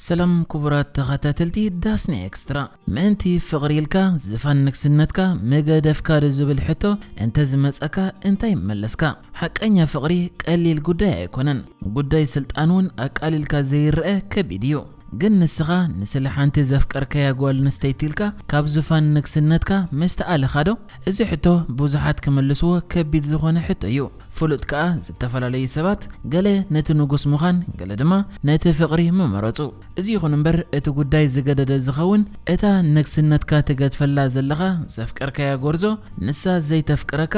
ሰላም ኩቡራት ተኸታተልቲ ዳስኒ ኤክስትራ ምእንቲ ፍቕሪ ኢልካ ዝፋን ንግስነትካ ምገደፍካ ዶ ዝብል ሕቶ እንተ ዝመጸካ እንታይ ምመለስካ? ሓቀኛ ፍቕሪ ቀሊል ጉዳይ ኣይኮነን ጉዳይ ስልጣን ውን ኣቃሊልካ ዘይረኣ ከቢድ እዩ ግን ንስኻ ንስለ ሓንቲ ዘፍቀርካያ ጓል ኣንስተይቲ ኢልካ ካብ ዙፋን ንግስነትካ ምስተኣለኻ ዶ? እዚ ሕቶ ብዙሓት ክምልስዎ ከቢድ ዝኾነ ሕቶ እዩ። ፍሉጥ ከኣ ዝተፈላለዩ ሰባት ገለ ነቲ ንጉስ ምዃን ገለ ድማ ነቲ ፍቕሪ ምመረጹ። እዚ ይኹን እምበር እቲ ጉዳይ ዝገደደ ዝኸውን እታ ንግስነትካ ትገድፈላ ዘለኻ ዘፍቀርካያ ጎርዞ ንሳ ዘይተፍቅረካ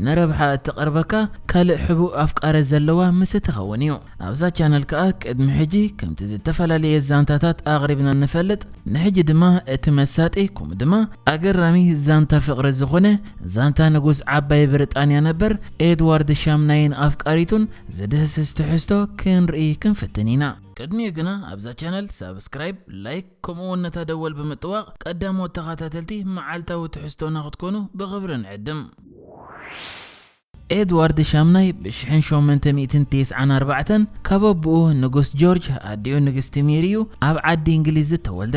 ንረብሓ እትቐርበካ ካልእ ሕቡእ ኣፍቃሪ ዘለዋ ምስ እትኸውን እዩ። ኣብዛ ቻነል ከኣ ቅድሚ ሕጂ ከምቲ ዝተፈላለየ ዛንታታት ኣቕሪብና ንፈልጥ ንሕጂ ድማ እቲ መሳጢ ከምኡ ድማ ኣገራሚ ዛንታ ፍቕሪ ዝኾነ ዛንታ ንጉስ ዓባይ ብሪጣንያ ነበር ኤድዋርድ ሻምናይን ኣፍቃሪቱን ዝድህስስ ትሕዝቶ ክንርኢ ክንፍትን ኢና። ቅድሚኡ ግና ኣብዛ ቻነል ሳብስክራይብ፣ ላይክ ከምኡ ውን ነታ ደወል ብምጥዋቕ ቀዳሞት ተኸታተልቲ መዓልታዊ ትሕዝቶና ክትኮኑ ብኽብሪ ንዕድም። ኤድዋርድ ሻምናይ ብ ሽሕን ሸሞንተ ሚእትን ቴስዓን ኣርባዕተን ካብ ኣቡኡ ንጉስ ጆርጅ ኣዲኡ ንግስቲ ሜሪ እዩ ኣብ ዓዲ እንግሊዝ ዝተወልደ።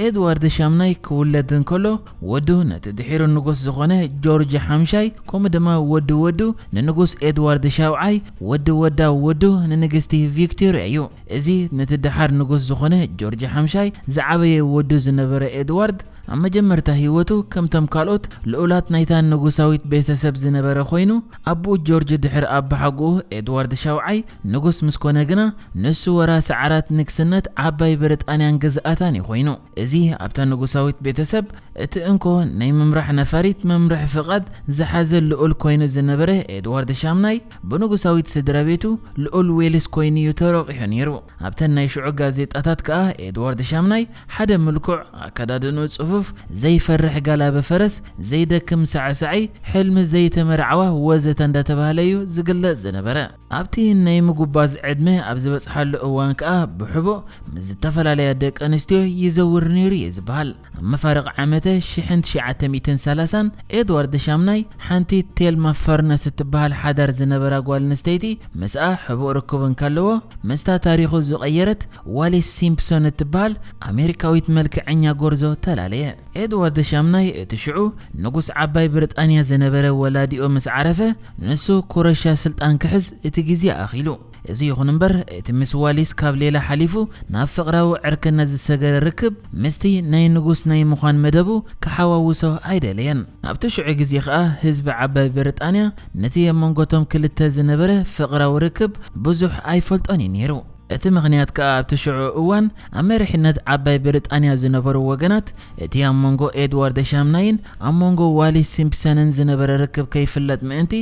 ኤድዋርድ ሻምናይ ክውለድ እንከሎ ወዱ ነቲ ድሒሩ ንጉስ ዝኾነ ጆርጅ ሓምሻይ ከምኡ ድማ ወዲ ወዱ ንንጉስ ኤድዋርድ ሻውዓይ ወዲ ወዳ ወዱ ንንግስቲ ቪክቶርያ እዩ። እዚ ነቲ ደሓር ንጉስ ዝኾነ ጆርጅ ሓምሻይ ዝዓበየ ወዱ ዝነበረ ኤድዋርድ ኣብ መጀመርታ ህይወቱ ከምቶም ካልኦት ልኡላት ናይታ ንጉሳዊት ቤተሰብ ዝነበረ ኮይኑ፣ ኣቡኡ ጆርጅ ድሕሪ ኣባሓጎኡ ኤድዋርድ ሻውዓይ ንጉስ ምስ ኮነ ግና ንሱ ወራሲ ዓራት ንግስነት ዓባይ ብሪጣንያን ግዝኣታን እዩ ኮይኑ። እዚ ኣብታ ንጉሳዊት ቤተሰብ እቲ እንኮ ናይ ምምራሕ ነፋሪት መምርሒ ፍቓድ ዝሓዘ ልኡል ኮይኑ ዝነበረ ኤድዋርድ ሻምናይ፣ ብንጉሳዊት ስድራቤቱ ልኡል ዌልስ ኮይኑ እዩ ተሮቂሑ ነይሩ። ኣብተን ናይ ሽዑ ጋዜጣታት ከኣ ኤድዋርድ ሻምናይ ሓደ ምልኩዕ፣ ኣከዳድንኡ ጽፉፍ፣ ዘይፈርሕ ጋላቢ ፈረስ፣ ዘይደክም ሳዕሳዒ፣ ሕልሚ ዘይተመርዓዋ ወዘተ እንዳተባህለ እዩ ዝግለጽ ዝነበረ። ኣብቲ ናይ ምጉባዝ ዕድመ ኣብ ዝበጽሓሉ እዋን ከኣ ብሕቡእ ምስ ዝተፈላለያ ደቀንስትዮ ይዘውር ነይሩ እዩ ዝበሃል። ኣብ መፋርቕ ዓመተ ሽሕን ትሽዓተ ሚእትን ሰላሳን፣ ኤድዋርድ ሻምናይ፣ ሓንቲ ቴልማ ፈርነስ እትበሃል ሓዳር ዝነበራ ጓል ኣንስተይቲ ምስኣ ሕቡእ ርክብ እንከለዎ፣ ምስታ ታሪኹ ዝቐየረት ዋሊስ ሲምፕሶን እትበሃል ኣሜሪካዊት መልክዐኛ ጎርዞ ተላለየ። ኤድዋርድ ሻምናይ እቲ ሽዑ ንጉስ ዓባይ ብሪጣንያ ዝነበረ ወላዲኡ ምስ ዓረፈ፣ ንሱ ኩረሻ ስልጣን ክሕዝ እቲ ግዜ ኣኺሉ። እዚ ይኹን እምበር፣ እቲ ምስ ዋሊስ ካብ ሌላ ሓሊፉ ናብ ፍቕራዊ ዕርክነት ዝሰገረ ርክብ፣ ምስቲ ናይ ንጉስ ናይ ምዃን መደቡ ክሓዋውሶ ኣይደለየን። ኣብቲ ሽዑ ግዜ ከኣ ህዝቢ ዓባይ ብሪጣንያ ነቲ ኣብ መንጎ'ቶም ክልተ ዝነበረ ፍቕራዊ ርክብ ብዙሕ ኣይፈልጦን እዩ ነይሩ። እቲ ምኽንያት ከኣ ኣብቲ ሽዑ እዋን ኣብ መሪሕነት ዓባይ ብሪጣንያ ዝነበሩ ወገናት፣ እቲ ኣብ መንጎ ኤድዋርድ ሻምናይን ኣብ መንጎ ዋሊስ ሲምፕሰንን ዝነበረ ርክብ ከይፍለጥ ምእንቲ፣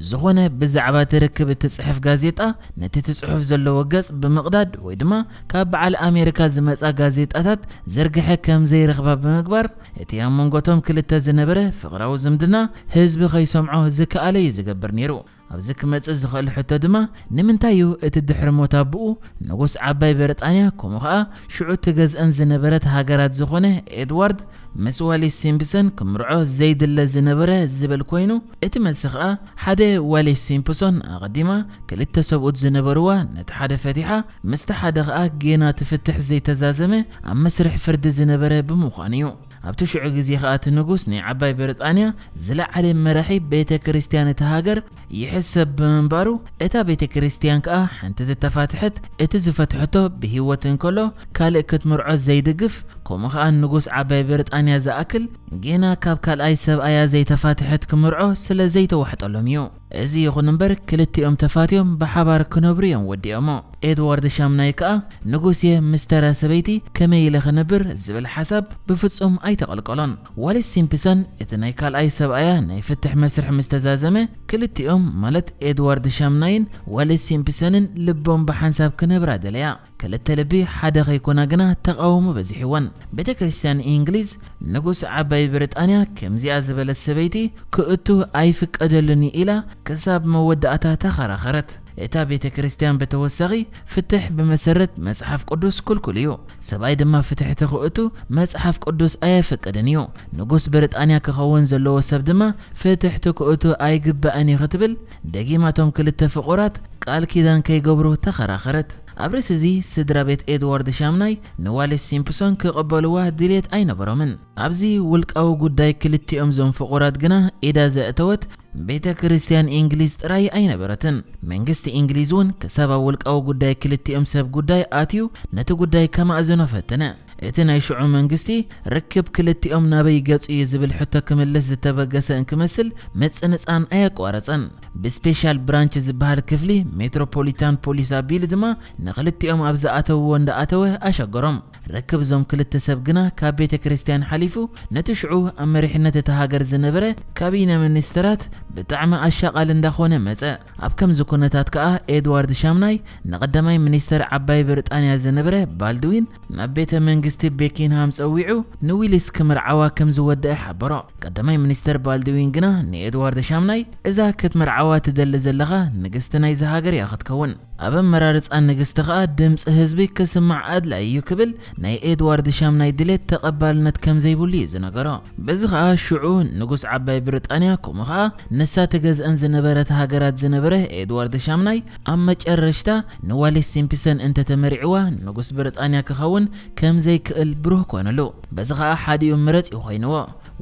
ዝኾነ ብዛዕባ እቲ ርክብ እትጽሕፍ ጋዜጣ፣ ነቲ እቲ ጽሑፍ ዘለዎ ገጽ ብምቕዳድ ወይ ድማ ካብ በዓል ኣሜሪካ ዝመጻ ጋዜጣታት ዝርግሐ ከም ዘይረኽባ ብምግባር፣ እቲ ኣብ መንጎ እቶም ክልተ ዝነበረ ፍቕራዊ ዝምድና ህዝቢ ከይሰምዖ ዝከኣለ እዩ ዝገብር ነይሩ። ኣብዚ ክመጽእ ዝኽእል ሕቶ ድማ፣ ንምንታይ እዩ እቲ ድሕሪ ሞት ኣቦኡ፣ ንጉስ ዓባይ ብሪጣንያ ከምኡ ኸኣ ሽዑ እትገዝኣን ዝነበረት ሃገራት ዝኾነ ኤድዋርድ ምስ ዋሊስ ሲምፕሰን ክምርዖ ዘይድለ ዝነበረ ዝብል ኮይኑ፣ እቲ መልሲ ከኣ ሓደ ዋሌስ ሲምፕሶን ኣቐዲማ ክልተ ሰብኡት ዝነበርዋ ነቲ ሓደ ፈቲሓ ምስቲ ሓደ ከኣ ጌና እቲ ፍትሕ ዘይተዛዘመ ኣብ መስርሕ ፍርዲ ዝነበረ ብምዃኑ እዩ። ኣብቲ ሽዑ ግዜ ከኣ እቲ ንጉስ ናይ ዓባይ ብርጣንያ ዝለዓለ መራሒ ቤተ ክርስትያን እታ ሃገር ይሕሰብ ብምንባሩ እታ ቤተ ክርስትያን ከኣ ሓንቲ ዝተፋትሐት እቲ ዝፈትሐቶ ብህይወት እንከሎ ካልእ ክትምርዖ ዘይድግፍ ከምኡ ከኣ ንጉስ ዓባይ ብርጣንያ ዝኣክል ግና ካብ ካልኣይ ሰብኣያ ዘይተፋትሐት ክምርዖ ስለ ዘይተዋሕጠሎም እዩ። እዚ ይኹን እምበር ክልቲኦም ተፋትዮም ብሓባር ክነብሩ እዮም ወዲኦሞ። ኤድዋርድ ሻምናይ ከኣ ንጉስ እየ ምስ ተራ ሰበይቲ ከመይ ኢለ ክነብር ዝብል ሓሳብ ብፍጹም ኣይተቐልቀሎን። ዋሊስ ሲምፕሰን እቲ ናይ ካልኣይ ሰብኣያ ናይ ፍትሕ መስርሕ ምስ ተዛዘመ ክልቲኦም ማለት ኤድዋርድ ሻምናይን ዋሊስ ሲምፕሰንን ልቦም ብሓንሳብ ክነብራ ደለያ። ክልተ ልቢ ሓደ ከይኮና ግና ተቓውሞ በዚሕወን። ቤተ ክርስቲያን ኢንግሊዝ ንጉስ ዓባይ ብሪጣንያ ከምዚኣ ዝበለት ሰበይቲ ክእቱ ኣይፍቀደሉን እዩ ኢላ ክሳብ መወዳእታ ተኸራኸረት። እታ ቤተክርስትያን ብተወሳኺ ፍትሕ ብመሰረት መጽሓፍ ቅዱስ ክልኩል እዩ፣ ሰብኣይ ድማ ፍትሕ ተክእቱ መጽሓፍ ቅዱስ ኣየፍቅድን እዩ፣ ንጉስ ብሪጣንያ ክኸውን ዘለዎ ሰብ ድማ ፍትሕ ትክእቱ ኣይግባእን እዩ ክትብል ደጊማ እቶም ክልተ ፍቑራት ቃል ኪዳን ከይገብሩ ተኸራኸረት። ኣብ ርእሲ'ዚ ስድራቤት ኤድዋርድ ሻምናይ ንዋሊስ ሲምፕሶን ክቕበልዋ ድልየት ኣይነበሮምን። ኣብዚ ውልቃዊ ጉዳይ ክልቲኦም'ዞም ፍቑራት ግና ኢዳ ዘእተወት ቤተ ክርስቲያን ኢንግሊዝ ጥራይ ኣይነበረትን። መንግስቲ ኢንግሊዝ'ውን ክሳብ ኣብ ውልቃዊ ጉዳይ ክልቲኦም ሰብ ጉዳይ ኣትዩ ነቲ ጉዳይ ከማእዝኖ ፈተነ። እቲ ናይ ሽዑ መንግስቲ ርክብ ክልቲኦም ናበይ ገጹ'ዩ ዝብል ሕቶ ክምልስ ዝተበገሰ እንክመስል ምጽንጻን ኣየቋረጸን። ብስፔሻል ብራንች ዝበሃል ክፍሊ ሜትሮፖሊታን ፖሊስ ኣቢሉ ድማ ንኽልቲኦም ኣብ ዝኣተውዎ እንዳኣተወ ኣሸገሮም። ርክብ እዞም ክልተ ሰብ ግና ካብ ቤተ ክርስትያን ሓሊፉ ነቲ ሽዑ ኣብ መሪሕነት እታ ሃገር ዝነበረ ካቢነ ሚኒስተራት ብጣዕሚ ኣሻቓሊ እንዳኾነ መጸ። ኣብ ከምዚ ኩነታት ከኣ ኤድዋርድ ሻምናይ ንቐዳማይ ሚኒስተር ዓባይ ብርጣንያ ዝነበረ ባልድዊን ናብ ቤተ መንግስቲ ቤኪንሃም ጸዊዑ ንዊሊስ ክምርዓዋ ከም ዝወደኣ ሓበሮ። ቀዳማይ ሚኒስተር ባልድዊን ግና ንኤድዋርድ ሻምናይ፣ እዛ ክትምርዓዋ ትደሊ ዘለኻ ንግስቲ ናይዚ ሃገር እያ ክትከውን፣ ኣብ ኣመራርጻ ንግስቲ ከኣ ድምጺ ህዝቢ ክስማዕ ኣድላዪ እዩ ክብል ናይ ኤድዋርድ ሻምናይ ድሌት ተቐባልነት ከም ዘይብሉ እዩ ዝነገሮ። በዚ ከኣ ሽዑ ንጉስ ዓባይ ብሪጣንያ ከምኡ ከኣ ንሳ ትገዝኣን ዝነበረት ሃገራት ዝነበረ ኤድዋርድ ሻምናይ ኣብ መጨረሽታ ንዋሌስ ሲምፕሰን እንተተመሪዕዋ ንጉስ ብሪጣንያ ክኸውን ከም ዘይክእል ብሩህ ኮነሉ። በዚ ኸኣ ሓዲኡ ምረጽ እዩ ኮይንዎ፣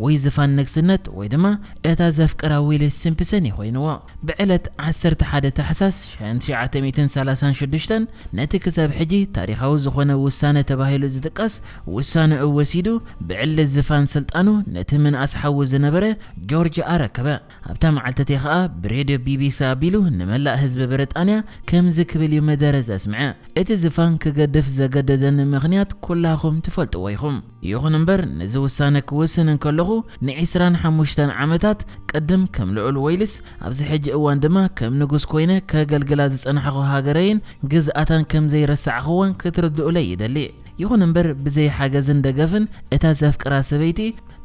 ወይ ዝፋን ንግስነት ወይ ድማ እታ ዘፍቅራ ዊሊ ሲምፕሰን እዩ ኮይንዎ። ብዕለት ዓሰርተ ሓደ ታሕሳስ ሸሕን ትሽዓተ ሚእትን ሰላሳን ሽዱሽተን ነቲ ክሳብ ሕጂ ታሪኻዊ ዝኾነ ውሳነ ተባሂሉ ዝጥቀስ ውሳነኡ ወሲዱ ብዕሊ ዝፋን ስልጣኑ ነቲ ምንኣስ ሓዉ ዝነበረ ጆርጅ ኣረከበ። ኣብታ መዓልቲ እቲኣ ኸኣ ብሬድዮ ቢቢሲ ኣቢሉ ንመላእ ህዝቢ ብሪጣንያ ከምዚ ክብል እዩ መደረ ዘስምዐ፣ እቲ ዝፋን ክገድፍ ዘገደደኒ ምኽንያት ኩላኹም ትፈልጥዎ ኢኹም። ይኹን እምበር ነዚ ውሳነ ክውስን እንከለኹ ንዒስራን ሓሙሽተን ዓመታት፣ ቅድም ከም ልዑል ወይልስ ኣብዚ ሕጂ እዋን ድማ ከም ንጉስ ኮይነ ከገልግላ ዝጸናሕኩ ሃገረይን ግዝኣታን ከም ዘይረሳዕኩወን ክትርድኡለይ ይደሊ። ይኹን እምበር ብዘይ ሓገዝን ደገፍን እታ ዘፍቅራ ሰበይቲ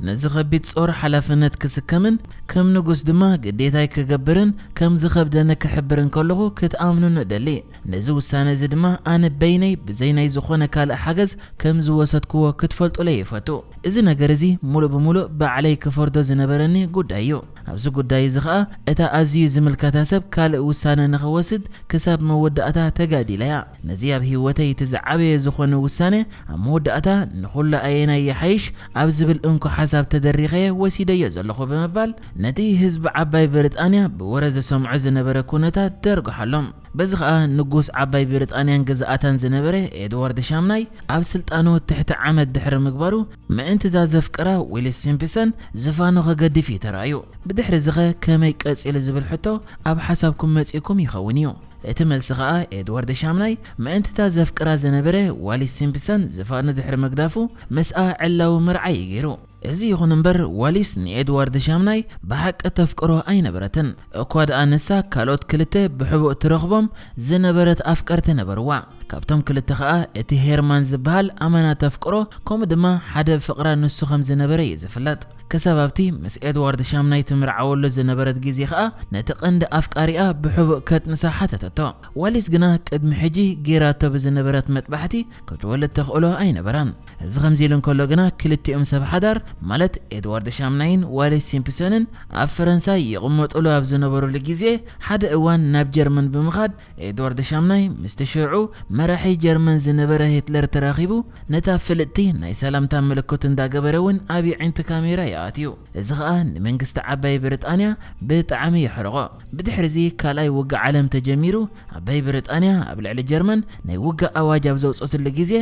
ነዚ ከቢድ ጾር ሓላፍነት ክስከምን ከም ንጉስ ድማ ግዴታይ ክገብርን ከም ዝኸብደኒ ክሕብር እንከለኹ ክትኣምኑኒ እደሊ። ነዚ ውሳነ እዚ ድማ ኣነ በይነይ ብዘይ ናይ ዝኾነ ካልእ ሓገዝ ከም ዝወሰድክዎ ክትፈልጡለይ እፈቱ። እዚ ነገር እዚ ምሉእ ብምሉእ ባዕለይ ክፈርዶ ዝነበረኒ ጉዳይ እዩ። ኣብዚ ጉዳይ እዚ ኸኣ እታ ኣዝዩ ዝምልከታ ሰብ ካልእ ውሳነ ንኽወስድ ክሳብ መወዳእታ ተጋዲለ እያ። ነዚ ኣብ ህይወተይ እቲ ዝዓበየ ዝኾነ ውሳነ ኣብ መወዳእታ ንኹሉ ኣየናይ ይሓይሽ ኣብ ዝብል እንኮ ሓሳብ ተደሪኸ ወሲደዮ ዘለኹ ብምባል ነቲ ህዝቢ ዓባይ ብሪጣንያ ብወረ ዝሰምዖ ዝነበረ ኩነታት ደርጉሓሎም። በዚ ከኣ ንጉስ ዓባይ ብሪጣንያን ግዝኣታን ዝነበረ ኤድዋርድ ሻምናይ ኣብ ስልጣኑ ትሕቲ ዓመት ድሕሪ ምግባሩ ምእንቲ እታ ዘፍቅራ ዊሊስ ሲምፕሰን ዝፋኑ ከገድፍ እዩ ተራእዩ። ብድሕሪ እዚኸ ከመይ ቀጺሉ ዝብል ሕቶ ኣብ ሓሳብኩም መጺእኩም ይኸውን እዩ። እቲ መልሲ ከኣ ኤድዋርድ ሻምናይ ምእንቲ እታ ዘፍቅራ ዝነበረ ዋሊስ ሲምፕሰን ዝፋኑ ድሕሪ ምግዳፉ ምስኣ ዕላዊ መርዓ እዩ ገይሩ። እዚ ይኹን እምበር ዋሊስ ንኤድዋርድ ሻምናይ ብሓቂ ተፍቅሮ ኣይነበረትን፣ እኳ ደኣ ንሳ ካልኦት ክልተ ብሕቡእ ትረኽቦም ዝነበረት ኣፍቀርቲ ነበርዋ። ካብቶም ክልተ ከኣ እቲ ሄርማን ዝበሃል ኣመና ተፍቅሮ ከምኡ ድማ ሓደ ብፍቅራ ንሱ ከም ዝነበረ እዩ ዝፍለጥ። ክሳብ ኣብቲ ምስ ኤድዋርድ ሻምናይ ትምርዓወሉ ዝነበረት ግዜ ከኣ ነቲ ቀንዲ ኣፍቃሪኣ ብሕቡእ ከጥንሳ ሓተተቶ። ዋሊስ ግና ቅድሚ ሕጂ ገይራቶ ብዝነበረት መጥባሕቲ ክትወልድ ተኽእሎ ኣይነበራን። እዚ ከምዚ ኢሉ እንከሎ ግና ክልቲኦም ሰብ ሓዳር ማለት ኤድዋርድ ሻምናይን ዋሊስ ሲምፕሶንን ኣብ ፈረንሳ ይቕመጡሉ ኣብ ዝነበሩሉ ግዜ ሓደ እዋን ናብ ጀርመን ብምኻድ ኤድዋርድ ሻምናይ ምስቲ ሽዑ መራሒ ጀርመን ዝነበረ ሂትለር ተራኺቡ ነታ ፍልጥቲ ናይ ሰላምታ ምልክቱ እንዳገበረ ውን ኣብ የዒንቲ ካሜራ ዩ ኣትዩ እዚ ኸኣ ንመንግስቲ ዓባይ ብርጣንያ ብጣዕሚ የሕርቖ ብድሕሪዚ ካልኣይ ውግእ ዓለም ተጀሚሩ ዓባይ ብርጣንያ ኣብ ልዕሊ ጀርመን ናይ ውግእ ኣዋጅ ኣብ ዘውጸትሉ ግዜ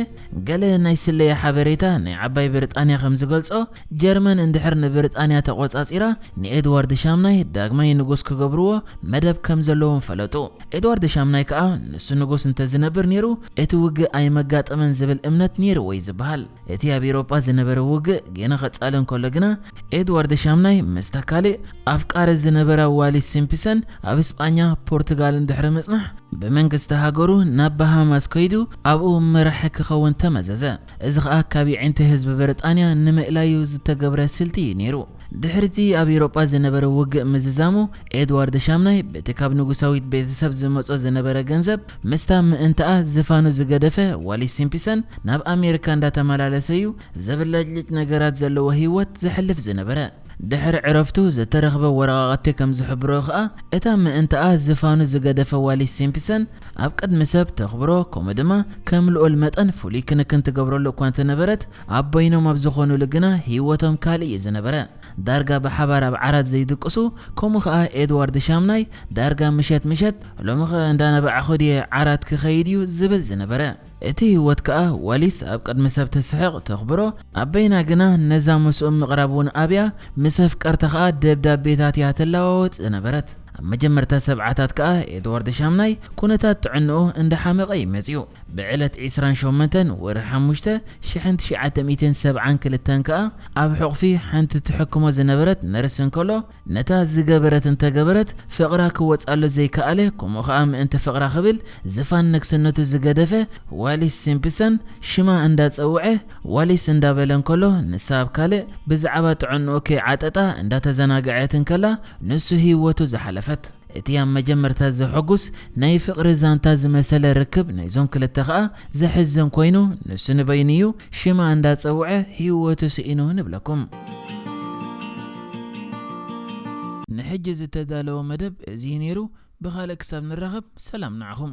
ገለ ናይ ስለያ ሓበሬታ ናይ ዓባይ ብርጣንያ ከም ዝገልጾ ጀርመን እንድሕር ንብሪጣንያ ተቖጻጺራ ንኤድዋርድ ሻምናይ ዳግማይ ንጉስ ክገብርዎ መደብ ከም ዘለዎም ፈለጡ። ኤድዋርድ ሻምናይ ከኣ ንሱ ንጉስ እንተ ዝነብር ነይሩ እቲ ውግእ ኣይመጋጠመን ዝብል እምነት ነይርዎ'ዩ ዝበሃል። እቲ ኣብ ኤውሮጳ ዝነበረ ውግእ ጌና ክጻለ እንከሎ ግና፣ ኤድዋርድ ሻምናይ ምስታ ካልእ ኣፍቃሪ ዝነበራ ዋሊስ ሲምፕሰን ኣብ ስጳኛ፣ ፖርቱጋልን ድሕሪ ምጽናሕ ብመንግስቲ ሃገሩ ናብ ባሃማስ ከይዱ ኣብኡ መራሒ ክኸውን ተመዘዘ። እዚ ኸኣ ካብ የዒንቲ ህዝቢ ብሪጣንያ ንምእላዩ ዝተገብረ ስልቲ እዩ ነይሩ። ድሕሪ'ቲ ኣብ ኤውሮጳ ዝነበረ ውግእ ምዝዛሙ፣ ኤድዋርድ ሻምናይ በቲ ካብ ንጉሳዊት ቤተሰብ ዝመጾ ዝነበረ ገንዘብ፣ ምስታ ምእንታኣ ዝፋኑ ዝገደፈ ዋሊስ ሲምፕሰን ናብ ኣሜሪካ እንዳተመላለሰ'ዩ ዘብለጭልጭ ነገራት ዘለዎ ህይወት ዘሕልፍ ዝነበረ። ድሕሪ ዕረፍቱ ዝተረኽበ ወረቓቕቲ ከም ዝሕብሮ ከኣ፣ እታ ምእንታኣ ዝፋኑ ዝገደፈ ዋሊስ ሲምፕሰን፣ ኣብ ቅድሚ ሰብ ተኽብሮ ከምኡ ድማ ከም ልኡል መጠን ፍሉይ ክንክን ትገብረሉ እኳ እንተነበረት፣ ኣብ በይኖም ኣብ ዝኾኑሉ ግና ህይወቶም ካልእ እዩ ዝነበረ። ዳርጋ ብሓባር ኣብ ዓራት ዘይድቅሱ፣ ከምኡ ከኣ ኤድዋርድ ሻምናይ ዳርጋ ምሸት ምሸት፣ ሎሚኸ እንዳነባዕኹ ድየ ዓራት ክኸይድ እዩ ዝብል ዝነበረ። እቲ ህይወት ከኣ ዋሊስ ኣብ ቅድሚ ሰብ ተስሕቕ ተኽብሮ ኣብ በይና ግና ነዛ ምስኡም ምቕራብ ውን ኣብያ ምስ ኣፍቀርታ ከኣ ደብዳቤታት እያ ትለዋወጥ ዝነበረት። ኣብ መጀመርታ ሰብዓታት ከኣ ኤድዋርድ ሻምናይ ኩነታት ጥዕንኡ እንዳ ሓመቐ እዩ መጺኡ። ብዕለት ዕስራን ሸሞንተን ወርሒ ሓሙሽተ ሽሕን ትሽዓተ ሚእትን ሰብዓን ክልተን ከኣ ኣብ ሕቑፊ ሓንቲ ትሕክሞ ዝነበረት ነርስ እንከሎ፣ ነታ ዝገበረት እንተ ገበረት ፍቕራ ክወጻሉ ዘይከኣለ ከምኡ ከኣ ምእንቲ ፍቕራ ክብል ዝፋን ንግስነቱ ዝገደፈ ዋሊስ ሲምፕሰን ሽማ እንዳ ጸውዐ ዋሊስ እንዳ በለ እንከሎ ንሳ ኣብ ካልእ ብዝዓባ ጥዕንኡ ከይዓጠጣ እንዳ ተዘናግዐት እንከላ ንሱ ሂወቱ ዝሓለፈት እቲ ኣብ መጀመርታ ዘሐጉስ ናይ ፍቕሪ ዛንታ ዝመሰለ ርክብ ናይዞም ክልተ ከኣ ዘሕዝን ኮይኑ ንሱ ንበይኑ እዩ ሽማ እንዳ ጸውዐ ሂወቱ ስኢኑ ንብለኩም። ንሕጂ ዝተዳለወ መደብ እዚ እዩ ነይሩ ብኻልእ ክሳብ ንራኸብ ሰላም ንዓኹም።